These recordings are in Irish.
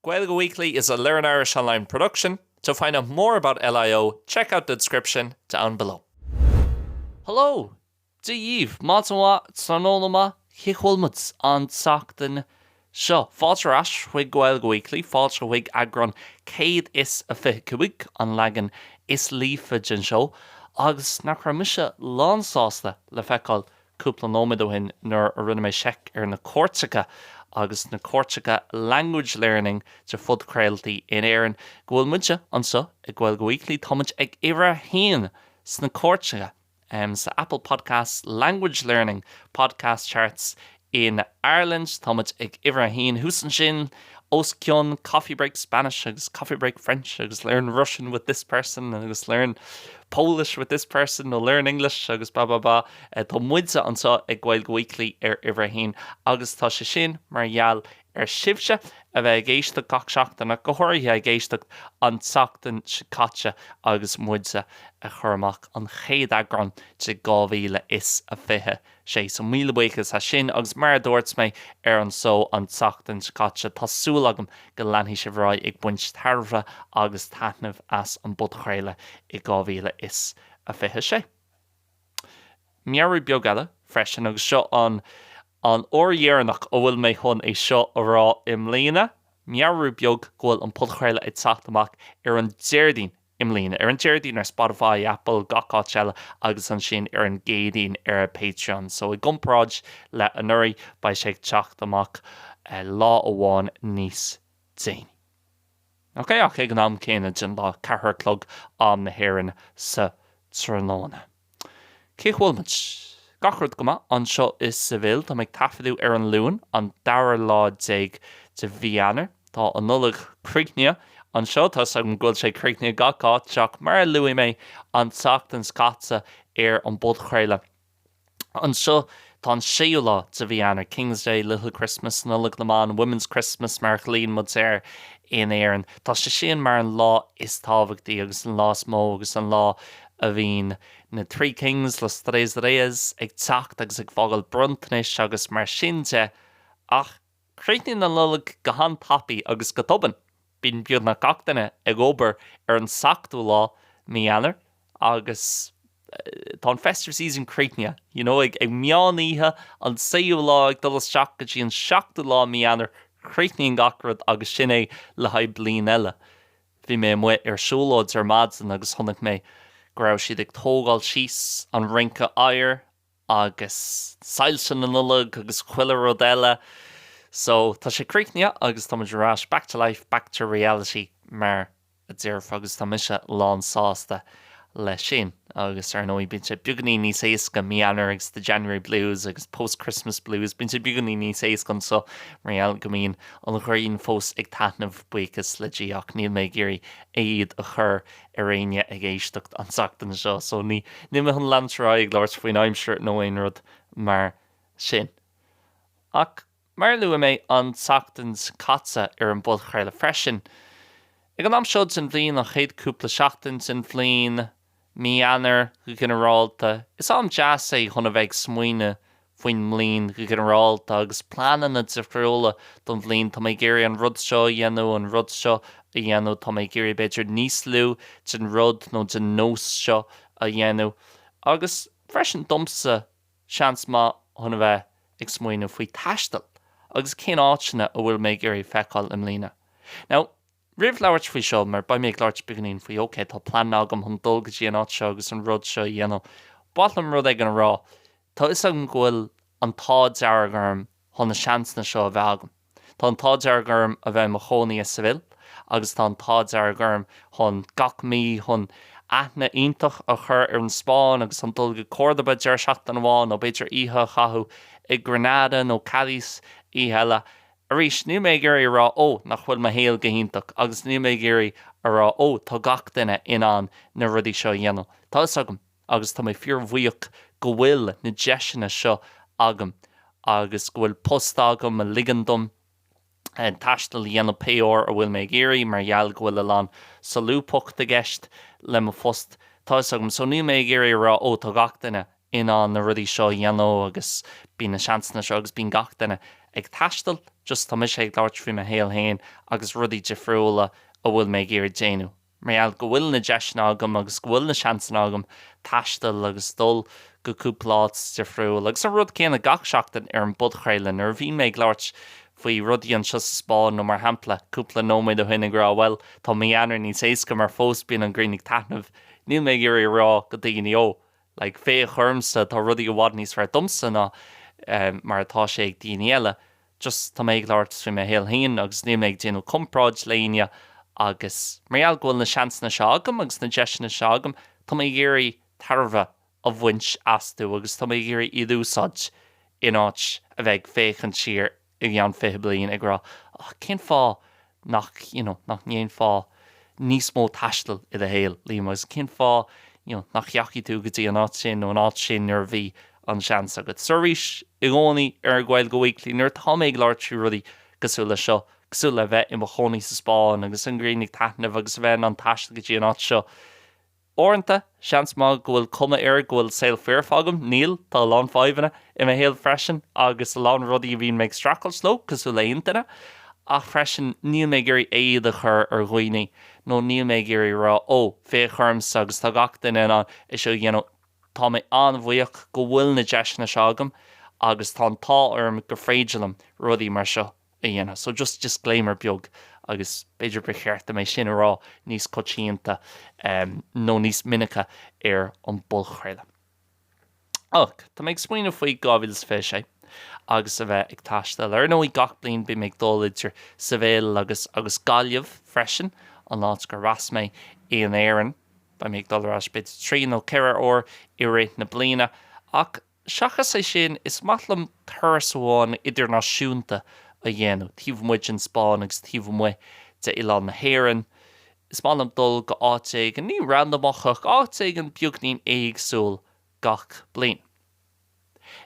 Gaeilge Weekly is a Learn Irish Online production. To find out more about LIO, check out the description down below. Hello! Dia dhaoibh! Maidin mhaith, tráthnóna maith, cén chaoi a bhfuil muid an tseachtain seo? Fáilte ar ais chuig Gaeilge Weekly, fáilte chuig eagrán 125, an leagan is líofa den seó, agus nach raibh mise lánsásta le feiceáil cúpla nóiméad ó shin nuair a rinne mé seic ar na cairteacha agus sna cairteacha Language Learning de phodchraoltaí in Éirinn go bhfuil muide anseo ag Gaeilge Weekly, tá muid ag uimhir a haon sna cairteacha sa Apple Podcasts Language Learning Podcast Charts in Ireland, tá muid ag uimhir a haon thuas ansin. os cionn coffee break Spanish agus coffee break French agus learn Russian with this person agus learn Polish with this person nó learn English agus blah blah blah. Tá muide anseo ag Gaeilge Weekly ar uimhir a haon agus tá sé sin mar gheall ar sibhse a bheith ag éisteacht gach seachtain ach go háirithe ag éisteacht an tseachtain seo caite agus muide ag cur amach an chéad eagrán de 2020. sé so. Míle buíochas as sin agus mar a dúirt mé ar an seó an tseachtain seo caite, tá súil agam go leanfaidh sibh ar aghaidh ag baint tairbhe agus taitneamh as an bpodchraoladh i 2026. Meabhrú beag eile freisin, agus seo an an uair dheireanach a bhfuil mé chun é seo a rá i mbliana, meabhrú beag go bhfuil an podchraoladh ag teacht amach ar an Déardaoin i mbliana, ar an Déardaoin ar Spotify, Apple, gach áit eile, agus ansin ar an gCéadaoin ar Patreon. So, i gcomparáid le anuraidh, beidh sé ag teacht amach lá amháin níos déanaí. Ok, ach ag an am céanna den lá, ceathar a chlog, am na hÉireann, sa tráthnóna. Cén chaoi a bhfuil muid? Gach rud go maith anseo i Seville. Táim ag taifeadadh ar an Luan, an dara lá déag de mhí Eanáir. Tá an Nollaig críochnaithe anseo. Tá 'fhios agam go bhfuil sé críochnaithe gach áit ach mar a luaigh mé an tseachtain seo caite ar an bpodchraoladh anseo, tá an séú lá de mhí Eanáir, King's Day, Little Christmas, Nollaig na mBan, Women's Christmas mar a ghlaonn muid air in Éirinn, tá sé sin mar an lá is tábhachtaí agus an lá is mó agus an lá a bhíonn na Three Kings, Los Tres Reyes, ag teacht agus ag fágáil bronntanais agus mar sin de, ach críochnaíonn an Nollaig go han-tapaidh agus go tobann. Bíonn beagnach gach duine ag obair ar an seachtú lá, Mí Eanáir, agus tá an festive season críochnaithe, you know. Ag meán oíche an séú lá, ag dul isteach go dtí an seachtú lá, Mí Eanáir, críochnaíonn gach rud agus sin é le haghaidh bliain eile. Bhí mé amuigh ar siúlóid ar maidin agus chonaic mé go raibh siad ag tógáil síos an rinc oighir agus soilse na Nollag agus chuile rud eile. So, tá sé críochnaithe agus tá muid ar ais, back to life, back to reality mar a déarfá agus tá mise lán sásta. leis sin. Agus ar ndóigh, bíonn sé beagainín níos éasca, mí Eanáir agus The January Blues agus Post Christmas Blues, bíonn sé beagainín níos éasca anseo mar gheall go mbíonn an ghrian fós ag taitneamh, buíochas le Dia, ach níl mé ag iarraidh éad a chur ar éinne ag éisteacht an tseachtain seo, so ní, níl mé chun leanúint ar aghaidh ag labhairt faoin aimsir nó aon rud mar sin. Ach. mar a luaigh mé an tseachtain seo caite ar an bpodchraoladh freisin. Ag an am seo den bhliain, an chéad chúpla seachtain den bhliain, mí Eanáir go ginearálta, is am deas é chun a bheith ag smaoineamh faoin mbliain go ginearálta agus pleananna difriúla don bhliain. Tá mé ag iarraidh an rud seo a dhéanamh, an rud seo a dhéanamh, tá mé ag iarraidh b'fhéidir níos lú den rud nó den nós seo a dhéanamh agus freisin domsa Seans maith chun a bheith ag smaoineamh faoi taisteal agus cén áiteanna a bhfuil mé ag iarraidh feiceáil i mbliana. Now, roimh labhairt faoi seo, mar beidh mé ag labhairt beagainín faoi ok, tá pleananna agam chun dul go dtí an áit seo agus an rud seo a dhéanamh, ba mhaith liom rud éigin a rá. Tá 'fhios agam go bhfuil an t-ádh dearg orm chun na seansanna seo a bheith agam. Tá an t-ádh dearg orm a bheith i mo chónaí i Seville agus tá an t-ádh dearg orm chun gach mí chun aithne iontach a chur ar an Spáinn agus chun dul go Córdoba deireadh seachtaine amháin nó b'fhéidir oíche a chaitheamh i Granada nó Cadiz oíche eile. Arís, níl mé ag iarraidh a rá, ó, nach bhfuil mo shaol go hiontach agus níl mé ag iarraidh a rá, ó, tá gach duine in ann na rudaí seo a dhéanamh. Tá 'fhios agam. agus tá mé fíorbhuíoch go bhfuil na deiseanna seo agam agus go bhfuil post agam a ligeann dom taisteal a dhéanamh pé uair a bhfuil mé ag iarraidh mar gheall go bhfuil a lán solúbthacht i gceist le mo phost. Tá fhios agam so níl mé ag iarraidh a rá ó tá gach duine in ann na rudaí seo a dhéanamh agus bíonn na seansanna seo agus bíonn gach duine ag taisteal just tá mise ag labhairt faoi mo shaol féin agus rudaí difriúla a bhfuil mé ag iarraidh déanamh. Mar gheall go bhfuil na deiseanna agam agus go bhfuil na seansanna agam taisteal agus dul go cúpla áit difriúil, agus an rud céanna gach seachtain ar an bpodchraoladh, nuair a bhíonn mé ag labhairt faoi rudaí anseo sa Spáinn, nó mar shampla, cúpla nóiméad ó shin ag rá, bhuel, tá mí Eanáir níos éasca mar fós bíonn an ghrian ag taitneamh, níl mé ag iarraidh a rá go daoine, oh, like, féach ormsa, tá rudaí i bhfad níos fearr domsa ná mar atá sé ag daoine eile. just tá mé ag labhairt faoi mo shaol féin agus níl mé ag déanamh comparáid le éinne agus mar gheall go bhfuil na seansanna seo agam agus na deiseanna seo agam tá mé ag iarraidh tairbhe a bhaint astu agus tá mé ag iarraidh iad a úsáid in áit a bheith ag féachaint siar i gceann fiche bliain ag rá oh cén fáth nach, you know, nach ndéanfá níos mó taistil i do shaol, Liam, agus cén fáth, you know, nach ndeachaigh tú go dtí an áit sin nó an áit sin nuair a bhí an seans agat? So arís, i gcónaí ar Gaeilge Weekly, nuair atá mé ag labhairt faoi rudaí cosúil leis seo, cosúil le a bheith i mo chónaí sa Spáinn agus an ghrian ag taitneamh agus a bheith in ann taisteal go dtí an áit seo, Uaireanta, seans maith go bhfuil cuma air go bhfuil saol foirfe agam. Níl. Tá a lán fadhbanna i mo shaol freisin agus a lán rudaí a bhíonn mé ag streachailt leo, cosúil le haon duine. Ach freisin, níl mé ag iarraidh éad a chur ar dhaoine nó níl mé ag iarraidh a rá, 'Ó, féach ormsa agus tá gach duine in ann é seo a dhéanamh'. Tá mé an-bhuíoch go bhfuil na deiseanna seo agam agus tá an t-ádh orm gur féidir liom rudaí mar seo a a dhéanamh. So just disclaimer beag, agus b'fhéidir gur cheart dom é sin a rá níos coitianta nó níos minice ar an bpodchraoladh. Ach tá mé ag smaoineamh faoi 2026 agus a bheith ag taisteal. Ar ndóigh gach bliain bím ag dul idir Seville agus agus Gaillimh freisin, an áit gur fhás mé in Éirinn. Beidh mé ag dul ar ais b'fhéidir trí nó ceithre uair i rith na bliana. Ach Seachas é sin, is maith liom turas amháin idirnáisiúnta a dhéanamh, taobh amuigh den Spáinn agus taobh amuigh d'oileán na hÉireann. Is maith liom dul go háit éigin, ní randamach, ach áit éigin beagnín éagsúil gach bliain.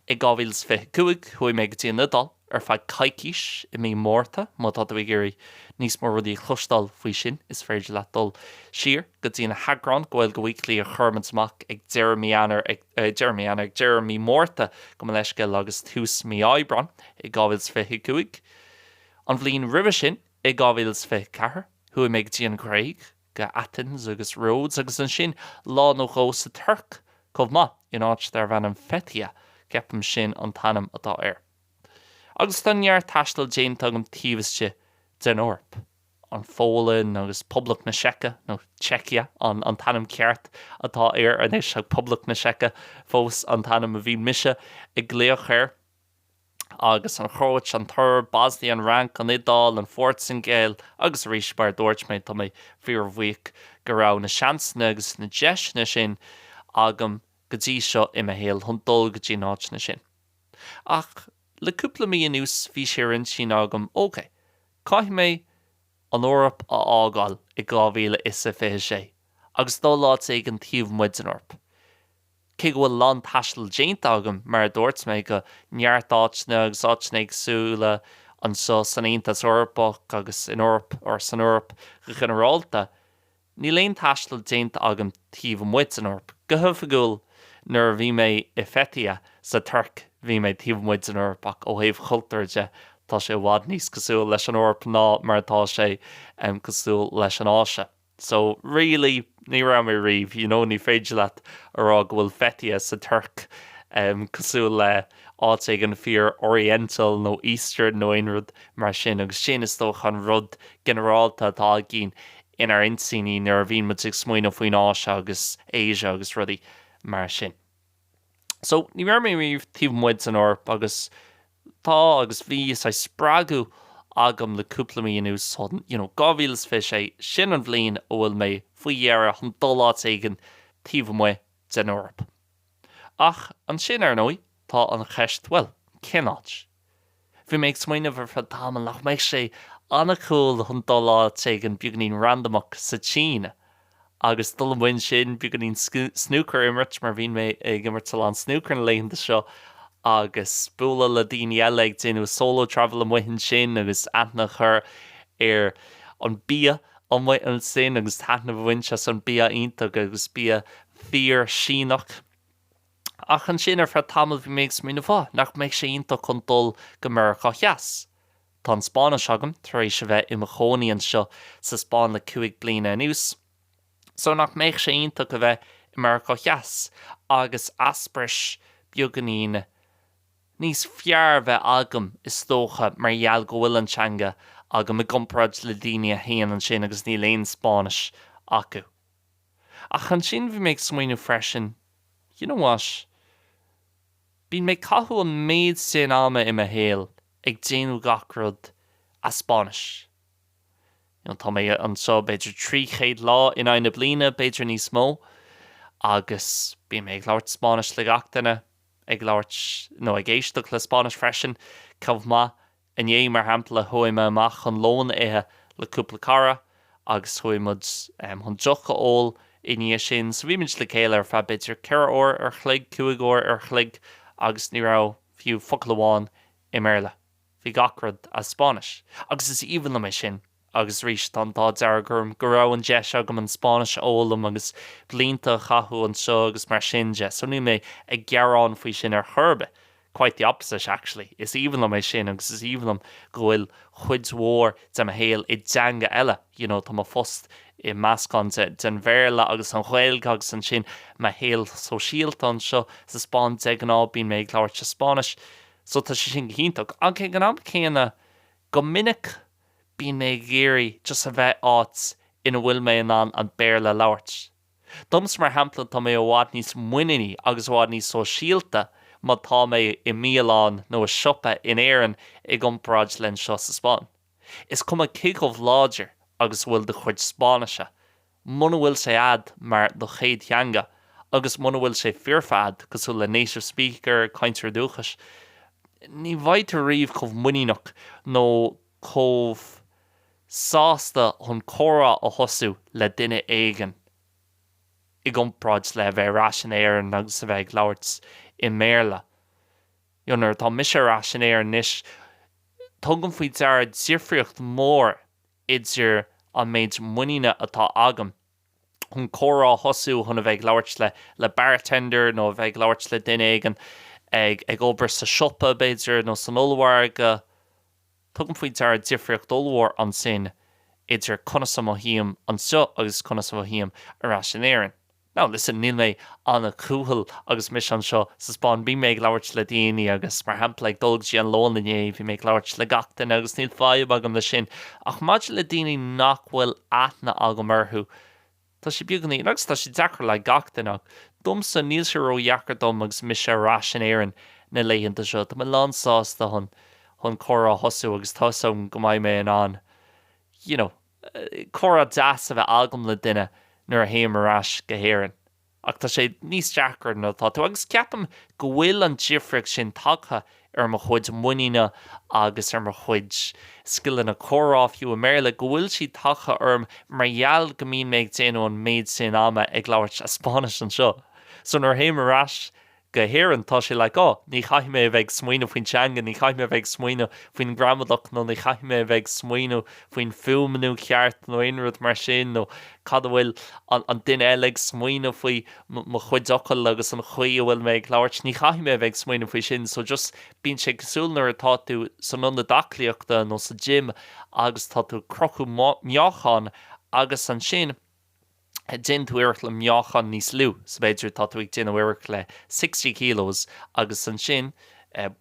I 2025, chuaigh mé go dtí an Iodáil ar feadh coicís i mí Márta, má tá tú ag iarraidh níos mó rudaí a chloisteáil faoi sin, is féidir leat dul siar go dtí na heagráin Gaeilge Weekly a chuireamar amach ag deireadh mí Eanáir ag. deireadh mí, ag deireadh mí Márta, gabh mo leithscéal, agus tús mí Aibreáin i 2025. An bhliain roimhe sin, i 2024, chuaigh mé go dtí an Ghréig, go Athens agus Rhodes, agus ansin lá nó dhó sa Tuirc chomh maith, in áit darb ainm Fethiye, ceapaim sin an t-ainm atá air. Agus tá neart taistil déanta agam taobh istigh den Eoraip. an Pholainn agus Poblacht na Seice, nó Czechia an t-ainm ceart atá air anois, ach Poblacht na Seice fós an t-ainm a bhí mise ag glaoch air, agus an Chróit, an tSoirb, Bosnia, an Fhrainc, an Iodáil, an Phortaingéil, agus arís, mar a dúirt mé, tá mé fíorbhuíoch go raibh na seansanna agus na deiseanna sin agam go dtí seo i mo shaol chun dul go dtí na háiteanna sin. Ach le cúpla mí anuas bhí sé ar intinn agam, OK, Caithfidh mé an Eoraip a fhágáil i 2026 agus dul áit éigin taobh amuigh den Eoraip. Cé go bhfuil a lán taistil déanta agam, mar a dúirt mé, go neart áiteanna agus áiteanna éagsúla anseo san Aontas Eorpach agus in Eoraip, or san Eoraip go ginearálta, Níl aon taisteal déanta agam taobh amuigh den Eoraip. Go hoifigiúil, nuair a bhí mé i Fethiye, sa Tuirc, bhí mé taobh amuigh den Eoraip, ach ó thaobh chultúir de, tá sé i bhfad níos cosúil leis an Eoraip ná mar atá sé cosúil leis an Áise. So, really, ní raibh mé riamh, you know, ní féidir leat a rá go bhfuil Fethiye sa Tuirc cosúil le, áit éigin fíor Oriental nó Eastern nó aon rud mar sin agus sin, is dócha, an rud ginearálta atá againn inár n-intinní nuair a bhíonn muid ag smaoineamh faoin Áise agus Asia agus rudaí mar sin. So, ní raibh mé riamh taobh amuigh den Eoraip agus tá agus bhí saghas spreagadh agam le cúpla mí anuas chun, you know, 2026, sin an bhliain a bhfuil mé faoi dheireadh chun dul áit éigin taobh amuigh den Eoraip. Ach ansin, ar ndóigh, tá an cheist, bhuel, cén áit? Bhí mé ag smaoineamh ar feadh tamaill nach mbeadh sé an-cool chun dul áit éigin beagainín randamach sa tSín agus dul amuigh ansin, beagainín snúcair a imirt, mar bhíonn mé ag imirt a lán snúcair na laethanta seo, agus bualadh le daoine eile, ag déanamh solo travel amuigh ansin agus aithne a chur ar an bia amuigh ansin agus taitneamh a bhaint as an bia iontach agus bia fíor-Shíneach. Ach ansin, ar feadh tamaill, bhí mé ag smaoineamh, oh, nach mbeadh sé iontach chun dul go Meiriceá Theas? Tá an Spáinnis agam, tar éis a bheith i mo chónaí anseo sa Spáinn le cúig bliana anuas. So, nach mbeadh sé iontach a bheith i Meiriceá Theas agus easprais beagainín níos fearr a bheith agam, is dócha, mar gheall go bhfuil an teanga agam, i gcomparáid le daoine a théann ansin agus níl aon Spáinnis acu. Ach ansin bhí mé ag smaoineamh freisin, you know what, bíonn mé ag caitheamh an méid sin ama i mo shaol ag déanamh gach rud as Spáinnis. You know, tá mé anseo b'fhéidir 300 lá in aghaidh na bliana, b'fhéidir níos mó, agus bíonn mé ag labhairt Spáinnis le gach duine, ag labhairt nó ag éisteacht le Spáinnis freisin, chomh maith Inné, mar shampla, chuaigh mé amach chun lón a ithe le cúpla cara agus chuaigh muid chun deoch a ól i ndiaidh sin. So bhí muid le chéile ar feadh b'fhéidir ceithre uair ar chloig, cúig uair ar chloig agus ní raibh fiú focal amháin i mBéarla. Bhí gach rud as Spáinnis. Agus is aoibhinn liom é sin. Agus arís, tá an t-ádh dearg orm go raibh an deis agam an Spáinnis a fhoghlaim agus blianta a chaitheamh anseo agus mar sin de, so níl mé ag gearán faoi sin ar chor ar bith, quite the opposite, actually. Is aoibhinn liom é sin agus is aoibhinn liom go bhfuil cuid mhór de mo shaol i dteanga eile, you know, tá mo phost i meascán den Bhéarla agus an Ghaeilge agus ansin mo shaol sóisialta anseo sa Spáinn, de ghnáth bíonn mé ag labhairt sa Spáinnis, so tá sé sin go hiontach. Ach ag an am céanna, go minic, Bíonn mé ag iarraidh just a bheith áit ina bhfuil mé in ann an Béarla a labhairt. Domsa, mar shampla, tá mé i bhfad níos muiníní agus i bhfad níos sóisialta má tá mé i mbialann nó i siopa in Éirinn i gcomparáid le anseo sa Spáinn. Is cuma cé chomh láidir agus a bhfuil do chuid Spáinnise, muna bhfuil sé agat mar do chéad theanga agus muna bhfuil sé foirfe agat, cosúil le native speaker, cainteoir dúchais, ní bheidh tú riamh chomh muiníneach nó chomh sásta chun comhrá a thosú le duine éigin i gcomparáid le a bheith ar ais in Éirinn agus a bheith ag labhairt i mBéarla. So, nuair atá mise ar ais in Éirinn anois, tugaim faoi deara difríocht mhór idir an méid muiníne atá agam chun comhrá a thosú, chun a bheith ag labhairt le le bartender nó a bheith ag labhairt le duine éigin ag ag obair sa siopa, b'fhéidir, nó san ollmhargadh. Tugaim faoi deara difríocht ollmhór ansin idir conas a mothaím anseo agus conas a mhothaím ar ais in Éirinn. Now listen, níl mé an-chúthail agus mise anseo sa Spáinn. Bíonn mé ag labhairt le daoine agus, mar shampla, ag dul go dtí an lón inné, bhí mé ag labhairt le gach duine agus níl fadhb agam le sin. Ach maidir le daoine nach bhfuil aithne agam orthu, tá sé beagáinín, agus tá sé deacair le gach duine, ach domsa, níl sé ró-dheacair dom agus mise ar ais in Éirinn na laethanta seo. Tá mé lán sásta chun chun comhrá a thosú agus tá 'fhios agam go mbeidh mé in ann, you know. comhrá deas a bheith agam le duine nuair a théim ar ais go hÉirinn, ach tá sé níos deacra nuair atá tú. Agus ceapaim go bhfuil an difríocht sin tagtha ar mo chuid muiníne agus ar mo chuid scileanna comhrá, fiú i mBéarla, go bhfuil siad tagtha orm mar gheall go mbíonn mé ag déanamh an méid sin ama ag labhairt Spáinnis anseo. So nuair a théim ar ais go hÉirinn, tá sé like, oh, ní chaithfidh mé a bheith ag smaoineamh faoin teanga, ní chaithfidh mé a bheith ag smaoineamh faoin ghramadach nó ní chaithfidh mé a bheith ag smaoineamh faoin fuaimniú ceart nó aon rud mar sin nó cad a bhfuil an duine eile ag smaoineamh faoi, mo chuid focal agus an chaoi a bhfuil mé ag labhairt, ní chaithfidh mé a bheith ag smaoineamh faoi sin so just bíonn sé cosúil nuair atá tú san ionad aclaíochta nó sa gym agus tá tú ag crochadh meáchain agus ansin Déan tú iarracht le meáchan níos lú, so b'fhéidir, tá tú ag déanamh iarracht le 60 kilos agus ansin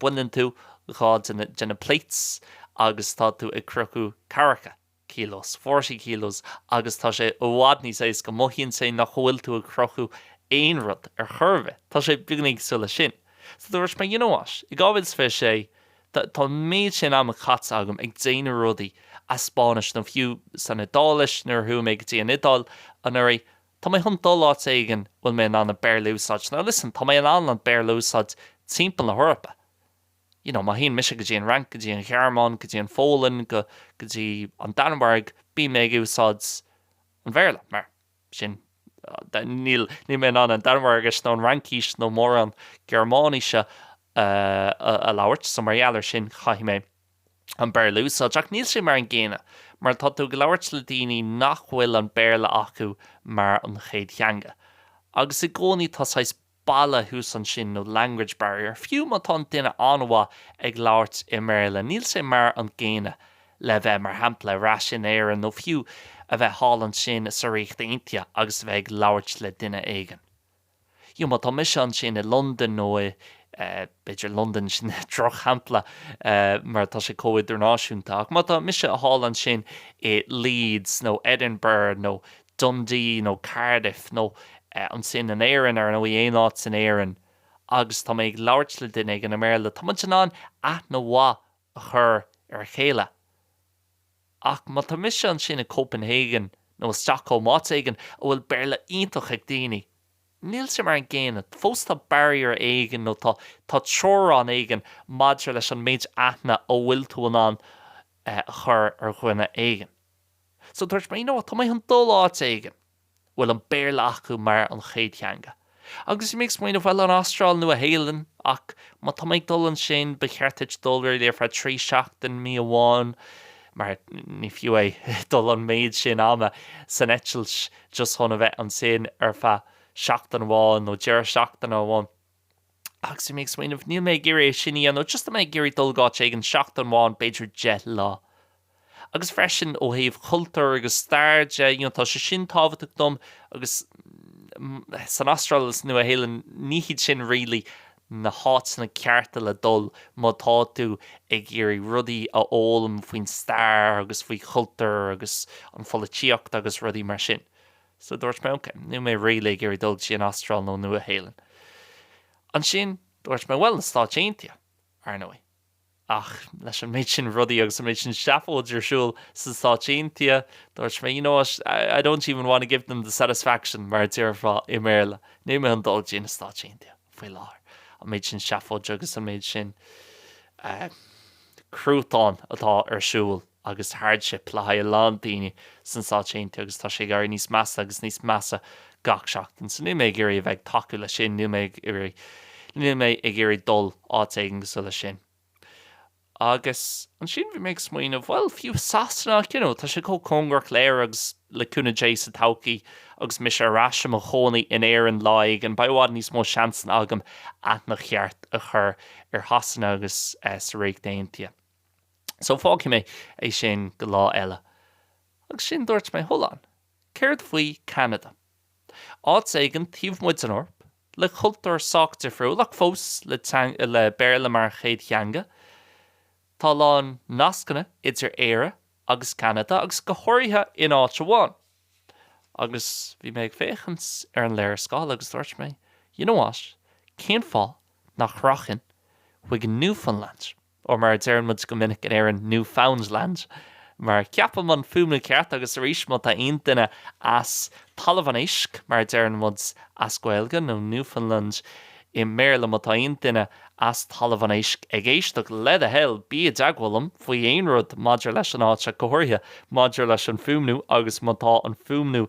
baineann tú dhá de na plates agus tá tú ag crochadh cathracha, kilos, 40 kilos agus tá sé i bhfad níos éasca, mothaíonn sé nach bhfuil tú ag crochadh aon rud ar chor ar bith, tá sé beagáinín cosúil leis sin. So dúirt mé, you know what, i 2026, Tá an méid sin ama caite agam ag déanamh rudaí as Spáinnis, nó fiú san Iodáilis nuair a chuaigh mé go dtí an Iodáil anuraidh. Tá mé chun dul áit éigin a bhfuil mé in ann an Béarla a úsáid. Now listen, tá mé in ann an Béarla a úsáid timpeall na hEorpa. You know, má théann mise go dtí an Fhrainc, go dtí an Ghearmáin, go dtí an Pholainn, go, go dtí an Danmhairg, bíonn mé ag úsáid an Bhéarla, mar. sin. Níl mé in ann an Danmhairgis nó an Fhraincis nó mórán Gearmáinise a labhairt, so mar gheall ar sin caithfidh mé an Béarla a úsáid. Ach níl sé mar an gcéanna mar tá tú ag labhairt le daoine nach bhfuil an Béarla acu mar an chéad theanga agus i gcónaí tá saghas balla thuas ansin nó language barrier. Fiú má tá an duine an-mhaith ag labhairt i mBéarla, níl sé mar an gcéanna le bheith, mar shampla, ar ais in Éirinn nó fiú a bheith thall ansin sa Ríocht Aontaithe agus a bheith ag labhairt le duine éigin. Fiú má tá mise ansin i Londain nó i, b'fhéidir Londain, sin drochshampla mar tá sé chomh idirnáisiúnta, ach má tá mise thall ansin i Leeds nó Edinburgh nó Dundee nó Cardiff nó ansin in Éirinn, ar ndóigh, aon áit in Éirinn agus tá mé ag labhairt le duine éigin i mBéarla, tá muid in ann aithne mhaith a chur ar a chéile. Ach má tá mise ansin i Copenhagen nó i Stockholm, áit éigin a bhfuil Béarla iontach ag daoine, níl sé mar an gcéanna, fós tá barrier éigin nó tá teorainn éigin maidir leis an méid aithne a bhfuil tú in ann a chur ar dhuine éigin. So dúirt mé no, tá mé chun dul áit éigin a bhfuil an Béarla acu mar an chéad theanga. Agus bhí mé ag smaoineamh, bhuel, an Astráil, Nua Shéalainn, ach má tá mé ag dul ansin, ba cheart duit dul ar ar feadh trí seachtain, mí amháin, mar ní fiú é dul an méid sin ama san eitilt just chun a bheith ansin ar feadh seachtain amháin nó deireadh seachtaine amháin. Agus bhí mé ag smaoineamh, níl mé ag iarraidh é sin a dhéanamh, just tá mé ag iarraidh dul go áit éigin seachtain amháin, b'fhéidir deich lá. Agus freisin ó thaobh cultúr agus stair de, you know, tá sé sin tábhachtach dom agus san Astráil agus Nua Shéalainn, ní hiad sin really na háiteanna cearta le dul má tá tú ag iarraidh rudaí a fhoghlaim faoin stair agus faoi chultúr agus an pholaitíocht agus rudaí mar sin. So dúirt mé, OK, níl mé really ag iarraidh dul go dtí an Astráil nó an Nua-Shéalainn. Ansin, dúirt mé, bhuel, na Stáit Aontaithe, ar ndóigh. Ach leis an méid sin rudaí agus an méid sin seafóid ar siúl sna Stáit Aontaithe, dúirt mé, you know what, I don't even wanna give them the satisfaction, mar a déarfá i mBéarla. Níl mé chun dul go dtí na Stáit Aontaithe faoi láthair. An méid sin seafóid agus an méid sin eh cruatáin atá ar siúl. agus hardship le haghaidh a lán daoine sna Stáit Aontaithe agus tá sé ag éirí níos measa agus níos measa gach seachtain. So níl mé ag iarraidh a bheith ag tacú leis sin, níl mé ag iarraidh, níl mé ag iarraidh dul áit éigin cosúil leis sin. Agus ansin bhí mé ag smaoineamh, bhuel, fiú i Sasana ach you know tá sé chomh cóngarach d'Éire agus le cúnamh Dé sa todhchaí agus mise ar ais i mo chónaí in Éirinn lá éigin, beidh i bhfad níos mó seansanna agam aithne cheart a chur ar Shasana agus an Ríocht Aontaithe. So fágfaidh mé é sin go lá eile. Agus ansin dúirt mé, Hold on, céard faoi Cheanada? Áit éigin taobh amuigh den Eoraip, le cultúr sách difriúil ach fós le teanga, le Béarla mar chéad theanga. Tá a lán nascanna idir Éire agus Ceanada agus go háirithe in áit amháin. Agus bhí mé ag féachaint ar an léarscáil agus dúirt mé, You know what, cén fáth nach rachainn chuig Newfoundland? nó mar a deireann muid go minic in Éirinn, New Found Land, mar ceapaim an fuaimniú ceart, agus arís, má tá aon duine as Talamh an Éisc, mar a deireann muid as Gaeilge, nó Newfoundland i mBéarla, má tá aon duine as Talamh an Éisc ag éisteacht, le do thoil, bí i dteagmháil liom faoi aon rud maidir leis an áit ach go háirithe, maidir leis an fuaimniú, agus má tá an fuaimniú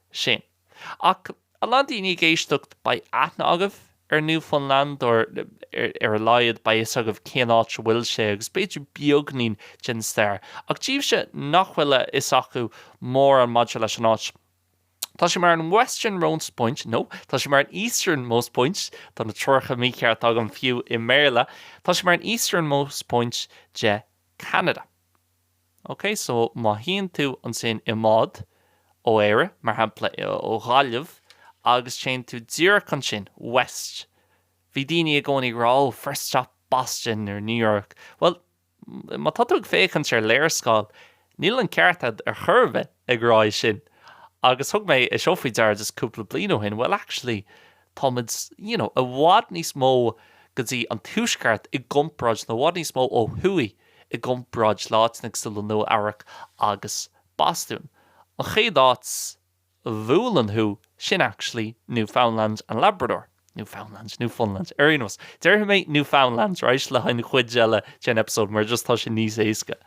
sin. Ach a lán daoine ag éisteacht, beidh aithne agaibh ar Newfoundland, or ar a laghad beidh fhios agaibh cén áit a bhfuil sé, agus b'fhéidir beagainín den stair. Ach daoibhse nach bhfuil a fhios acu mórán maidir leis an áit, tá sé mar an westernmost point, no, tá sé mar an eastern most point, tá na treoracha mícheart agam fiú i mBéarla, tá sé mar an easternmost point de Canada. OK, so má théann tú ansin i mbád, ó Éire, mar shampla, ó Ghaillimh, agus téann tú díreach ansin, west, bhí daoine i gcónaí ag rá, oh, first stop Boston nó New York. Bhuel, má tá tú ag féachaint ar léarscáil, níl an ceart a'd ar chor ar bith. ag rá é sin agus thug mé é seo faoi deara just cúpla bliain ó shin, bhuel actually táimid you know i bhfad níos mó go dtí an tuaisceart i gcomparáid nó i bhfad níos mó ó thuaidh i gcomparáid le áiteanna cosúil le Nua Eabhrac agus Bostún. An chéad áit a bhuaileann thú, sin actually Newfoundland and Labrador. Newfoundland, Newfoundland, ar aon nós déarfaidh mé Newfoundland, right, le haghaidh an chuid eile den episode mar just tá sin níos éasca.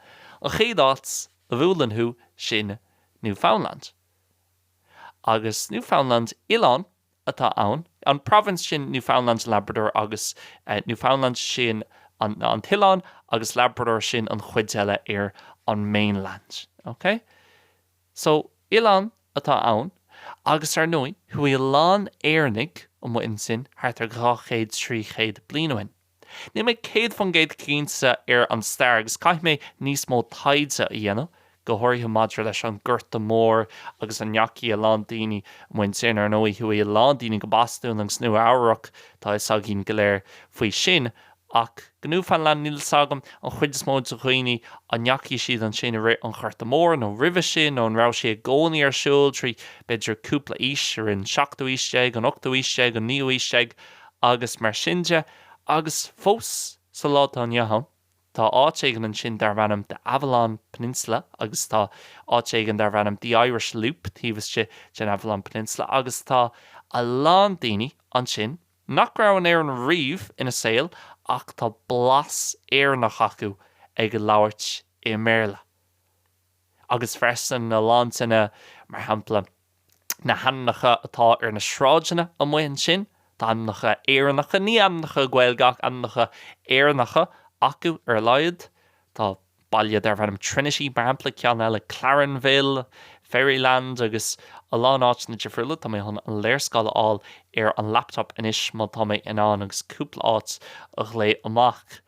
An chéad áit a a bhuaileann thú, sin Newfoundland. Agus Newfoundland, oileán, atá ann, an province, sin Newfoundland, Labrador, agus Newfoundland, sin an t-oileán, agus Labrador, sin an chuid eile ar an mainland. Ok? So, oileán atá ann, agus ar ndóigh, chuaigh a lán Éireannaigh amuigh ansin thart ar dhá chéad, trí chéad bliain ó shin. Níl mé céad faoin gcéad cinnte ar an stair agus caithfidh mé níos mó taighde a dhéanamh, go háirithe maidir leis an nGorta Mór agus an ndeachaigh a lán daoine, amuigh ansin, ar ndóigh, chuaigh a lán daoine go Bostún agus Nua Eabhrac, tá a fhios againn go léir faoi sin, ach go Newfoundland níl a fhios agam an chuid is mó de dhaoine an ndeachaigh siad ansin i rith an Ghorta Mhóir nó roimhe sin nó an raibh sé i gcónaí ar siúl trí, b'fhéidir, cúpla aois, i rith an seachtú aois déag, an ochtú aois déag, an naoú aois déag agus mar sin de, agus fós sa lá atá inniu ann, tá áit éigin ansin darb ainm The Avalon Peninsula agus tá áit éigin darb ainm The Irish Loop taobh istigh den Avalon Peninsula agus tá a lán daoine ansin nach raibh in Éirinn riamh ina saol ach tá blas Éireannach acu ag labhairt i mBéarla. agus freisin a lán daoine, mar shampla, na hainmneacha atá ar na sráideanna amuigh ansin, tá ainmneacha Éireannacha, ní ainmneacha Gaeilge ach ainmneacha Éireannacha, acu ar a laghad. Tá baile darb ainm Trinity, mar shampla, ceann eile Clarenville, Fairyland agus a lán áiteanna difriúla. Tá mé chun an léarscáil a fháil ar an laptop anois má tá mé in ann agus cúpla áit a ghlaoch amach.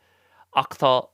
Ach tá.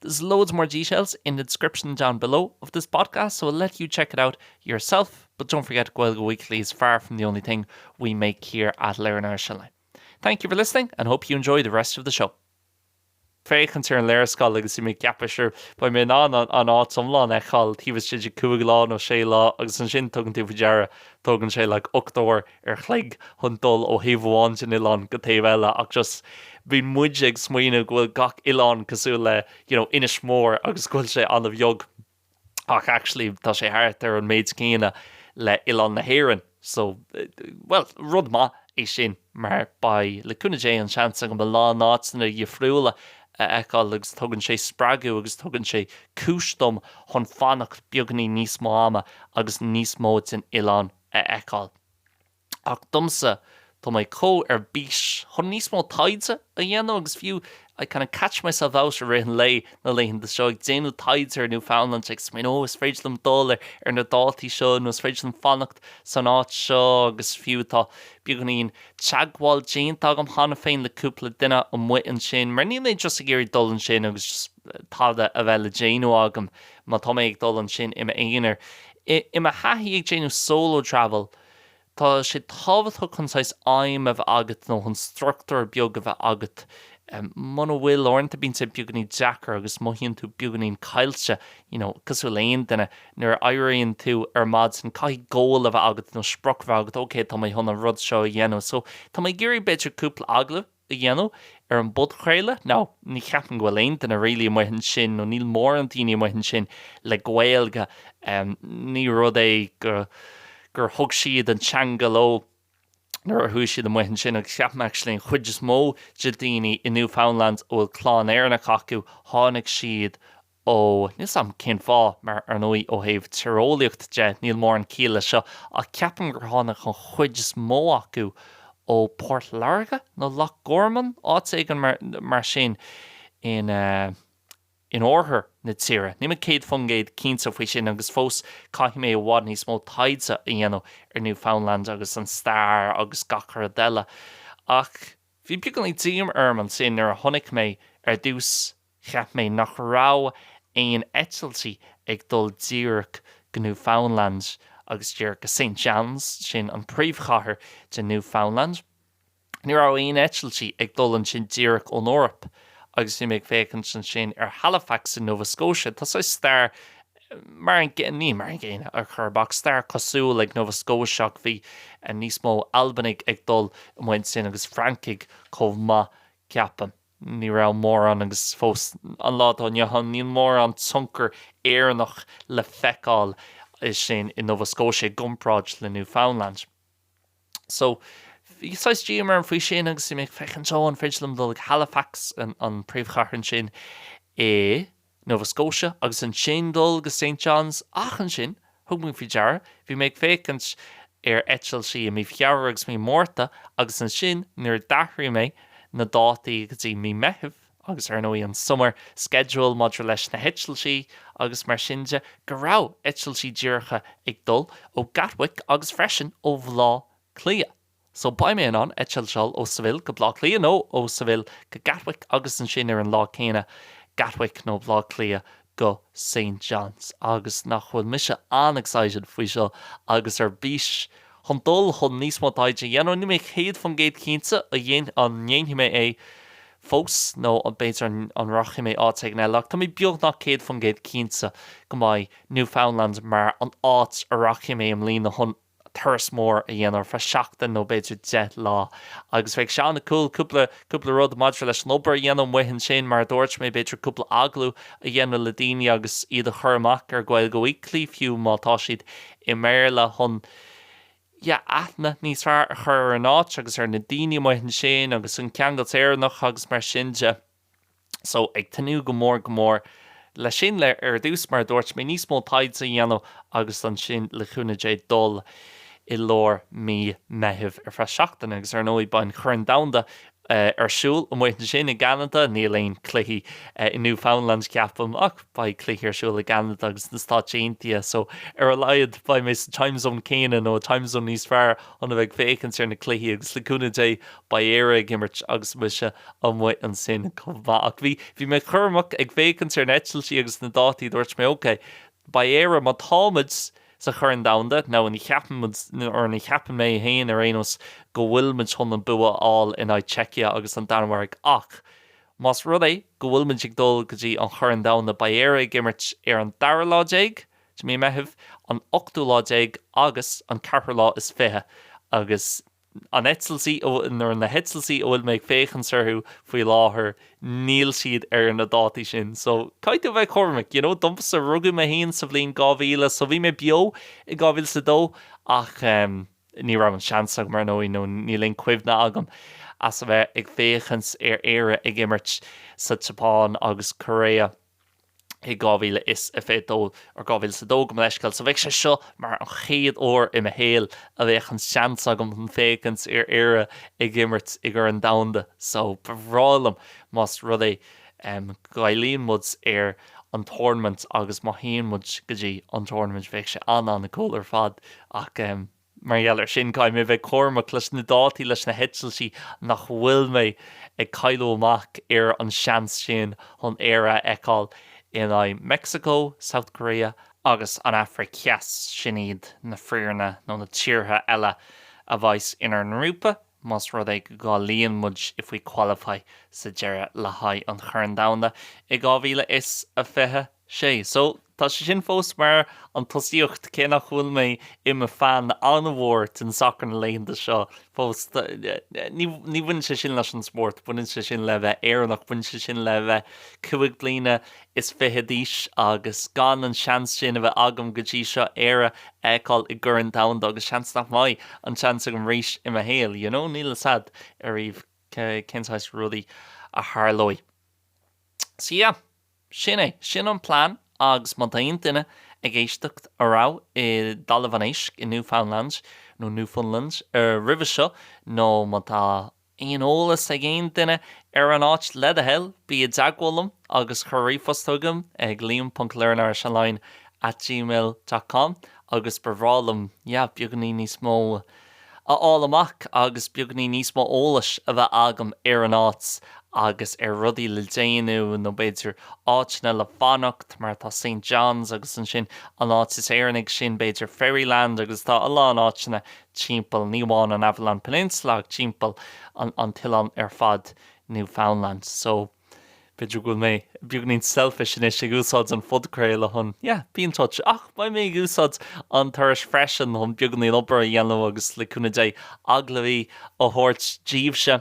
There's loads more details in the description down below of this podcast so I'll let you check it out yourself but don't forget Gaeilge Weekly is far from the only thing we make here at Learn Irish Online. Thank you for listening and hope you enjoy the rest of the show. féachaint ar an léarscáil agus bhí mé ag ceapadh sure beidh mé in ann an áit iomlán a fheiceáil taobh istigh de 5 lá nó 6 lá agus ansin tugann tú faoi deara tógann sé like 8 uair an chloig chun dul ó thaobh amháin den oileán go taobh eile ach just bíonn muid ag smaoineamh go bhfuil gach oileán cosúil le you know Inis Mór agus go bhfuil sé an-bheag ach actually tá sé thart ar an méid céanna le oileán na hÉireann so well rud maith é sin mar beidh le cúnamh Dé an seans agam a lán áiteanna difriúla a fheiceáil agus tugann sé spreagadh agus tugann sé cúis dom chun fanacht beagainín níos mó ama agus níos mó den oileán a fheiceáil. Ach domsa, tá mé chomh ar bís chun níos mó taighde a dhéanamh agus fiú, I kind of catch myself out i rith an lae, na laethanta seo, ag déanamh taighde ar Newfoundland, ag smaoineamh, oh, is féidir liom dul ar na dátaí seo nó is féidir liom fanacht san áit seo agus fiú, tá beagáinín teagmháil déanta agam cheana féin le cúpla duine amuigh ansin mar níl mé just ag iarraidh dul ansin agus just tada a bheith le déanamh agam má tá mé ag dul ansin i m'aonar. I mo thaithí ag déanamh solo travel, tá sé tábhachtach chun saghas aidhm a bheith agat nó chun struchtúr beag a bheith agat. Muna bhfuil, uaireanta bíonn sé beagáinín deacair agus mothaíonn tú beagáinín caillte, you know, cosúil le aon duine. Nuair a éiríonn tú ar maidin, caithfidh goal a bheith agat nó sprioc a bheith agat, ok, tá mé chun an rud seo a dhéanamh, so tá mé ag iarraidh b'fhéidir cúpla agallamh, a dhéanamh ar an bpodchraoladh, Ní cheapaim go bhfuil aon duine really amuigh ansin, nó níl mórán daoine amuigh ansin le Gaeilge, ní rud é go, gur thug siad an teanga leo nuair a chuaigh siad amuigh ansin agus ceapaim actually an chuid is mó de daoine i Newfoundland a bhfuil clann Éireannach acu, tháinig siad Ó, níl 's a'm cén fáth, mar ar ndóigh ó thaobh tíreolaíocht de níl mórán ciall le seo ach ceapaim gur tháinig an chuid is mó acu ó Port Láirge nó Loch Garman, áit éigin mar, mar sin in eh, in oirthear na tíre. Níl mé céad faoin gcéad cinnte faoi sin agus fós caithfidh mé i bhfad níos mó taighde a dhéanamh ar Newfoundland agus an stair agus gach a' rud eile ach bhí beagáinín díomá orm ansin nuair a chonaic mé ar dtús Cheap mé nach raibh aon eitiltí ag dul díreach go Newfoundland agus díreach go St. John's, sin an príomhchathair de Newfoundland. Ní raibh aon eitiltí ag dul ansin díreach ón Eoraip agus bhí mé ag féachaint ansin ar Halifax i Nova Scotia. Tá saghas stair mar an, ní mar an gcéanna ar chor ar bith, ach stair cosúil ag Nova Scotia ach bhí níos mó Albanaigh ag dul amuigh ansin agus Francaigh chomh maith, ceapaim. Ní raibh mórán, agus fós an lá atá inniu ann níl mórán tionchar Éireannach le feiceáil ansin i Nova Scotia i gcomparáid le Newfoundland. So, bhí saghas díomá orm faoi sin agus bhí mé ag féachaint, oh, an féidir liom dul go Halifax, an príomhchathair ansin i. Nova Scotia agus ansin dul go St. John's ach ansin, thug mé faoi deara, bhí mé ag féachaint ar eitiltí i mí Feabhra agus mí Márta agus ansin nuair a d'athraigh mé na dátaí go dtí mí Meithimh agus ar ndóigh an summer schedule maidir leis na heitiltí agus mar sin de, go raibh eitiltí díreacha ag dul ó Gatwick agus freisin ó Bhleá Cliath. So, beidh mé in ann eitilt ó Seville go Bleá Cliath, nó ó Seville go Gatwick agus ansin ar an lá céanna Gatwick nó Bleá Cliath go St. John's. Agus nach bhfuil mise an-excited faoi seo agus ar bís chun dul chun níos mó taighde a dhéanamh. Níl mé céad faoin gcéad cinnte an ndéanfaidh mé é fós nó b'fhéidir an rachaidh mé áit éigin eile, ach tá mé beagnach céad faoin gcéad cinnte go mbeidh Newfoundland mar an áit a rachaidh mé i mbliana chun. turas mór a dhéanamh ar feadh seachtain nó b'fhéidir deich lá. Agus bheadh sé an-cool cúpla, cúpla rud maidir leis an obair a dhéanamh amuigh ansin, mar a dúirt mé, b'fhéidir cúpla agallamh a dhéanamh le daoine agus iad a chur amach ar Gaeilge Weekly fiú má tá siad i mBéarla chun, yeah, aithne níos fearr a chur ar an áit agus ar na daoine amuigh ansin agus an ceangal Éireannach agus mar sin de. So, ag tnúth go mór, go mór, leis sin, le, ar dtús, mar a dúirt mé, níos mó taighde a dhéanamh agus ansin, le cúnamh Dé, dul i lár mí Meitheamh ar feadh seachtaine agus, ar ndóigh, beidh an Chorn Domhanda ar siúl amuigh ansin i gCeanada. Níl aon cluichí i Newfoundland, ceapaim, ach beidh cluichí ar siúl i gCeanada agus sna Stáit Aontaithe. So, ar a laghad, beidh mé sa time zone céanna nó time zone níos fearr chun a bheith ag féachaint ar na cluichí agus, le cúnamh Dé, Beidh Éire ag imirt agus mise amuigh ansin chomh maith. Ach bhí, bhí mé cúramach ag féachaint ar na eitiltí agus na dátaí. Dúirt mé, OK, beidh Éire, má táimid sa Chorn Domhanda, nó, or ní cheapann mé féin ar aon nós, go bhfuil muid chun an bua a fháil in aghaidh Czechia agus an Danmhairg. Ach más rud é go bhfuil muid ag dul go dtí an Chorn Domhanda, beidh Éire ag imirt ar an dara lá déag de mí Meitheamh, an ochtú lá déag agus an ceathrú lá is fiche. Agus. an eitiltí, nó, or na heitiltí a bhfuil mé ag féachaint orthu faoi láthair, níl siad ar na dátaí sin. So, caithfidh tú a bheith cúramach, you know. Domsa, rugadh mé féin sa bhliain 2000, so bhí mé beo i 2002 ach ní raibh an seans agam, ar ndóigh, nó níl aon chuimhne agam as a bheith ag féachaint ar Éire ag imirt sa tSeapáin agus Korea. i 2022 or 2002 gabh mo leithscéal so bheadh sé seo mar an chéad uair i mo shaol a bheadh an seans agam chun féachaint ar Éire ag imirt i gCorn Domhanda so ba bhreá liom más rud é go gcáilíonn muid ar an tournament agus má théann muid go dtí an tournament bheadh sé an-an-cool ar fad ach Mar gheall air sin, caithfidh mé a bheith cúramach leis na dátaí, leis na heitiltí, nach bhfuil mé ag cailleadh amach ar an seans sin chun Éire a fheiceáil in aghaidh Mexico, South Korea, agus an Afraic Theas, sin iad na foirne nó na tíortha eile a bheas inár ngrúpa, más rud é go gcáilíonn muid, if we qualify, sa deireadh le haghaidh an Chorn Domhanda i 2026. Sé. So, tá sé sin fós mar an tosaíocht, cé nach bhfuil mé i mo fan an-mhór den sacar na laethanta seo fós. Ní bhaineann sé sin leis an spórt, baineann sé sin le bheith Éireannach, baineann sé sin le bheith cúig bliana is fiche d'aois agus gan an seans sin a bheith agam go dtí seo, Éire a fheiceáil i gCorn Domhanda agus seans nach mbeidh an seans agam arís i mo shaol, you know, níl fhios a'd ariamh cén saghas rudaí a tharlóidh. So yeah. Sin é. Sin an plean agus má tá aon duine ag éisteacht a raibh i dTalamh an Éisc, i Newfoundland nó Newfoundland, roimhe seo nó má tá aon eolas ag aon duine ar an áit, le do thoil, bí i dteagmháil liom agus cuir ríomhphost chugam ag liam.learnirishonline at gmail dot com agus ba bhreá liom, yeah, beagáinín níos mó. a fháil amach agus beagainín níos mó eolais a bheith agam ar an áit agus ar rudaí le déanamh nó b'fhéidir áiteanna le fanacht mar tá St. John's agus ansin an áit is Éireannaí sin b'fhéidir Ferryland agus tá a lán áiteanna timpeall ní amháin an Avalon Peninsula ach timpeall an t-oileán ar fad Newfoundland so b'fhéidir go bhfuil mé beagainín selfish anois ag úsáid an phodchraoladh chun yeah, be in touch ach beidh mé ag úsáid an turais freisin chun beagainín obair a dhéanamh agus le cúnamh Dé, agallamhaí a thabhairt díbhse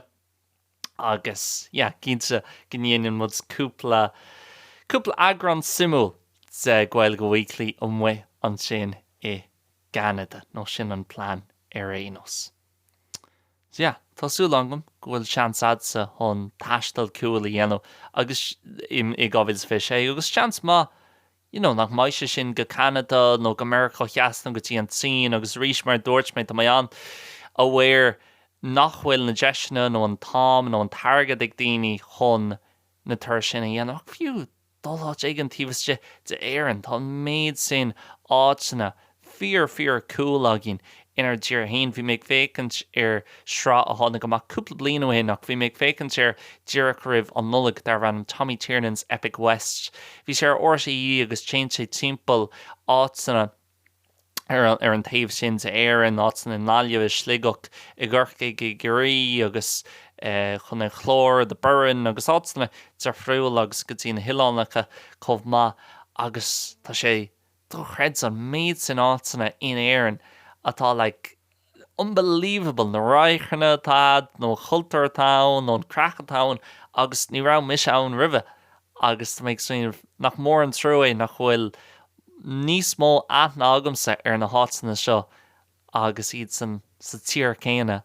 agus yeah, cinnte go ndéanann muid cúpla, cúpla eagrán suimiúil de Gaeilge Weekly amuigh ansin i gCeanada, nó sin an plean ar aon nós. So, tá súil agam go bhfuil seans a'dsa chun taisteal cúil a dhéanamh agus i 2026 agus seans maith, you know, nach mbeidh sé sin go Ceanada nó go Meiriceá Theas nó go dtí an tSín agus arís mar a dúirt mé, tá mé an-aware nach bhfuil na deiseanna nó an t-am nó an t-airgead ag daoine chun na turais sin a dhéanamh ach fiú, dul áit éigin taobh istigh d'Éirinn. Tá an méid sin áiteanna fíor fíor cúl againn inár dtír fhéin. Bhí mé ag féachaint ar sraith a tháinig amach cúpla bliain ó shin ach bhí mé ag féachaint air díreach roimh an Nollaig darbh ainm Tommy Tiernan's Epic West. Bhí sé ar RTÉ agus téann sé timpeall áiteanna. ar an taobh sin d'Éirinn, áiteanna i nGaillimh, i Sligeach, i gCorcaigh, i gCiarraí agus chun an Chláir, The Burren, agus áiteanna difriúla agus go dtí na hoileánacha chomh maith, agus tá sé dochreidte an méid sin áiteanna in Éirinn atá like, unbelievable, na radharcanna atá agat nó an cultúr atá ann nó an craic atá ann agus ní raibh mise ann roimhe agus tá mé ag smaoineamh nach mór an trua é nach bhfuil níos mó aithne agamsa ar na háiteanna seo agus iad sa tír chéanna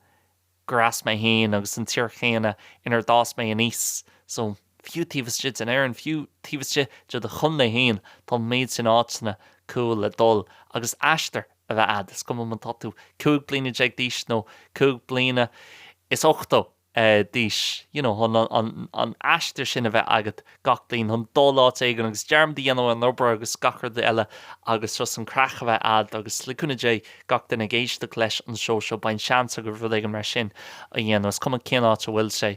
gur as mé féin agus an tír chéanna inar d'fhás mé aníos so fiú taobh istigh den Éirinn, fiú taobh istigh de do chontae féin, tá an méid sin áiteanna cúil le dul agus aistear a bheith agat, is cuma an tá tú cúig bliana déag d'aois nó cúig bliana is ochtó d'aois. You know, chun an aistear sin a bheith agat gach bliain, chun dul áit éigin agus dearmad a dhéanamh ar an obair agus gach rud eile agus just an craic a bheith agat agus le cúnamh Dé, gach duine ag éisteacht leis an seó seo, beidh seans agaibh rud éigin mar sin a dhéanamh, is cuma cén áit a bhfuil sé.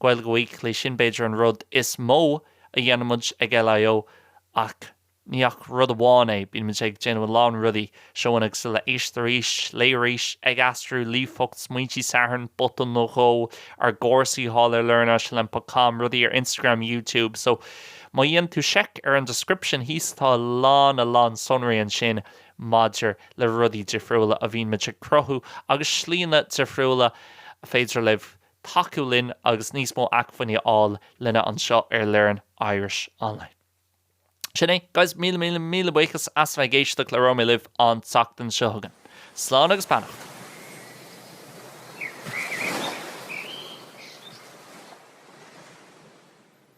Gaeilge Weekly, sin b'fhéidir an rud is mó a dhéanaimid ag LIO, ach ní hé ach rud amháin é, bímid ag déanamh a lán rudaí, seo í an Ghaeilge, éist arís, léigh arís, ag aistriú, ríomhphost, smaointe Sathairn, botún nó dhó, ár gcúrsaí thall ar learnirishonline ponc com, rudaí ar Instagram, YouTube, so má dhéanann tú check ar an description thíos tá a lán a lán sonraí ansin maidir le rudaí difriúla a bhímid ag cruthú agus slíonna difriúla ar féidir libh tacú linn agus níos mó acmhainní a fháil uainne anseo ar Learn Irish Online. Sin é, guys, míle míle míle buíochas as a bheith ag éisteacht labhróimid libh an tseachtain seo chugainn. Slán agus beannacht!